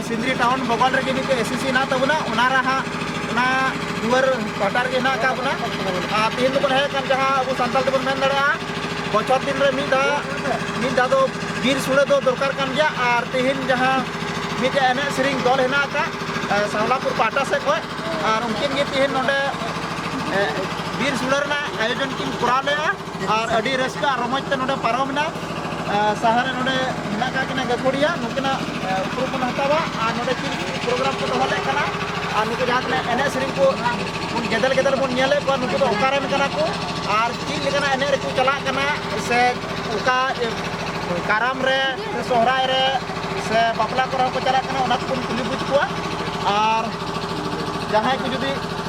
Sindri town ᱵᱚᱜᱚᱞ ᱨᱮᱜᱮ ᱢᱤᱫᱴᱮᱡ ᱮᱥ ᱮᱥ ᱥᱤ ᱦᱮᱱᱟᱜ ᱛᱟᱵᱚᱱᱟ ᱚᱱᱟ ᱨᱮ ᱦᱟᱸᱜ ᱚᱱᱟ ᱫᱩᱣᱟᱹᱨ ᱯᱟᱦᱴᱟ ᱨᱮᱜᱮ ᱦᱮᱱᱟᱜ ᱟᱠᱟᱫ ᱵᱚᱱᱟ ᱟᱨ ᱛᱮᱦᱮᱧ ᱫᱚᱵᱚᱱ ᱦᱮᱡ ᱟᱠᱟᱱ ᱡᱟᱦᱟᱸ ᱟᱵᱚ ᱥᱟᱱᱛᱟᱲ ᱛᱮᱵᱚᱱ ᱢᱮᱱ ᱫᱟᱲᱮᱭᱟᱜᱼᱟ ᱵᱚᱪᱷᱚᱨ ᱫᱤᱱ ᱨᱮ ᱢᱤᱫ ᱫᱷᱟᱣ ᱢᱤᱫ ᱫᱷᱟᱣ ᱫᱚ ᱵᱤᱨ ᱥᱩᱲᱟᱹ ᱫᱚ ᱫᱚᱨᱠᱟᱨ ᱠᱟᱱ ᱜᱮᱭᱟ ᱟᱨ ᱛᱮᱦᱮᱧ ᱡᱟᱦᱟᱸ ᱢᱤᱫᱴᱮᱡ ᱮᱱᱮᱡ ᱥᱮᱨᱮᱧ ᱫᱚᱞ ᱦᱮᱱᱟᱜ ᱟᱠᱟᱫ ᱥᱟᱣᱞᱟᱯᱩᱨ ᱯᱟᱦᱴᱟ ᱥᱮᱫ ᱠᱷᱚᱡ ᱟᱨ ᱩᱱᱠᱤᱱ ᱜᱮ ᱛᱮᱦᱮᱧ ᱱᱚᱰᱮ ᱵᱤᱨ ᱥᱩᱲᱟᱹ ᱨᱮᱱᱟᱜ ᱟᱭᱳᱡᱚᱱ ᱠᱤᱱ ᱠᱚᱨᱟᱣ ᱞᱮᱫᱼᱟ ᱟᱨ ᱟᱹᱰᱤ ᱨᱟᱹᱥᱠᱟᱹ ᱟᱨ ᱨᱚᱢᱚᱡᱽ ᱛᱮ ᱱᱚᱰᱮ ᱯᱟᱨᱚᱢ ᱮᱱᱟ ᱥᱟᱦᱟᱨ ᱨᱮ ᱱᱚᱰᱮ ᱢᱮᱱᱟᱜ ᱠᱟᱜ ᱠᱤᱱᱟ ᱜᱟᱹᱠᱷᱩᱲᱤᱭᱟᱹ ᱱᱩᱠᱤᱱᱟᱜ ᱩᱯᱨᱩᱢ ᱵᱚᱱ ᱦᱟᱛᱟᱣᱟ ᱟᱨ ᱱᱚᱰᱮ ᱪᱮᱫ ᱯᱨᱳᱜᱨᱟᱢ ᱠᱚ ᱫᱚᱦᱚ ᱞᱮᱫ ᱠᱟᱱᱟ ᱟᱨ ᱱᱩᱠᱩ ᱡᱟᱦᱟᱸ ᱛᱤᱱᱟᱹᱜ ᱮᱱᱮᱡ ᱥᱮᱨᱮᱧ ᱠᱚ ᱵᱚᱱ ᱜᱮᱫᱮᱞ ᱜᱮᱫᱮᱞ ᱵᱚᱱ ᱧᱮᱞᱮᱫ ᱠᱚᱣᱟ ᱱᱩᱠᱩ ᱫᱚ ᱚᱠᱟ ᱨᱮᱱ ᱠᱟᱱᱟ ᱠᱚ ᱟᱨ ᱪᱮᱫ ᱞᱮᱠᱟᱱᱟᱜ ᱮᱱᱮᱡ ᱨᱮᱠᱚ ᱪᱟᱞᱟᱜ ᱠᱟᱱᱟ ᱥᱮ ᱚᱠᱟ ᱠᱟᱨᱟᱢ ᱨᱮ ᱥᱮ ᱥᱚᱦᱨᱟᱭ ᱨᱮ ᱥᱮ ᱵᱟᱯᱞᱟ ᱠᱚᱨᱮ ᱦᱚᱸᱠᱚ ᱪᱟᱞᱟᱜ ᱠᱟᱱᱟ ᱚᱱᱟ ᱠᱚᱵᱚᱱ ᱠᱩᱞᱤ ᱵᱩᱡᱽ ᱠᱚᱣᱟ ᱟᱨ ᱡᱟᱦᱟᱸᱭ ᱠᱚ ᱡᱩᱫᱤ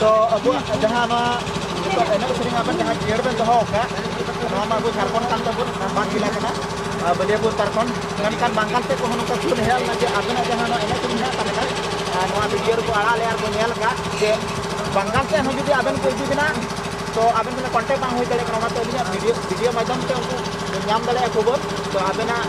ᱛᱚ ᱟᱵᱚᱣᱟᱜ ᱡᱟᱦᱟᱸ ᱱᱚᱣᱟ ᱱᱤᱛᱚᱜ ᱮᱱᱮᱡ ᱥᱮᱨᱮᱧ ᱟᱵᱮᱱ ᱡᱟᱦᱟᱸ ᱡᱤᱭᱟᱹᱲ ᱵᱮᱱ ᱫᱚᱦᱚ ᱟᱠᱟᱫ ᱱᱚᱣᱟ ᱢᱟ ᱟᱵᱚ ᱡᱷᱟᱲᱠᱷᱚᱸᱰ ᱠᱟᱱ ᱛᱟᱵᱚᱱ ᱵᱟᱝ ᱡᱮᱞᱟ ᱠᱟᱱᱟ ᱵᱟᱹᱞᱤᱭᱟᱹᱯᱩᱨ ᱯᱟᱨᱠᱷᱚᱸᱰ ᱢᱮᱱᱠᱷᱟᱱ ᱵᱟᱝᱜᱟᱞ ᱥᱮᱫ ᱠᱚᱦᱚᱸ ᱱᱚᱝᱠᱟ ᱠᱷᱩᱱ ᱦᱮᱡ ᱞᱮᱱᱟ ᱡᱮ ᱟᱵᱮᱱᱟᱜ ᱡᱟᱦᱟᱸ ᱱᱚᱣᱟ ᱮᱱᱮᱡ ᱥᱮᱨᱮᱧ ᱢᱮᱱᱟᱜ ᱛᱟᱵᱮᱱᱟ ᱱᱚᱣᱟ ᱵᱷᱤᱰᱤᱭᱳ ᱨᱮᱠᱚ ᱟᱲᱟᱜ ᱞᱮᱫᱼᱟ ᱟᱨ ᱠᱚ ᱧᱮᱞ ᱟᱠᱟᱫ ᱡᱮ ᱵᱟᱝᱜᱟᱞ ᱥᱮᱫ ᱦᱚᱸ ᱡᱩᱫᱤ ᱟᱵᱮᱱ ᱠᱚ ᱤᱫᱤ ᱵᱮᱱᱟ ᱛᱚ ᱟᱵᱮᱱ ᱥᱟᱞᱟᱜ ᱠᱚᱱᱴᱮᱠᱴ ᱵᱟᱝ ᱦᱩᱭ ᱫᱟᱲᱮᱭᱟᱜ ᱠᱟᱱᱟ ᱚᱱᱟᱛᱮ ᱟᱹᱞᱤᱧᱟᱜ ᱵᱷᱤᱰᱤᱭᱳ ᱵᱷᱤᱰᱤᱭᱳ ᱢᱟᱫᱽᱫᱷᱚᱢ ᱛᱮ ᱩᱱᱠᱩ ᱧᱟᱢ ᱫᱟᱲᱮᱭᱟᱜᱼᱟ ᱠᱷᱚᱵᱚᱨ ᱛᱚ ᱟᱵᱮᱱᱟᱜ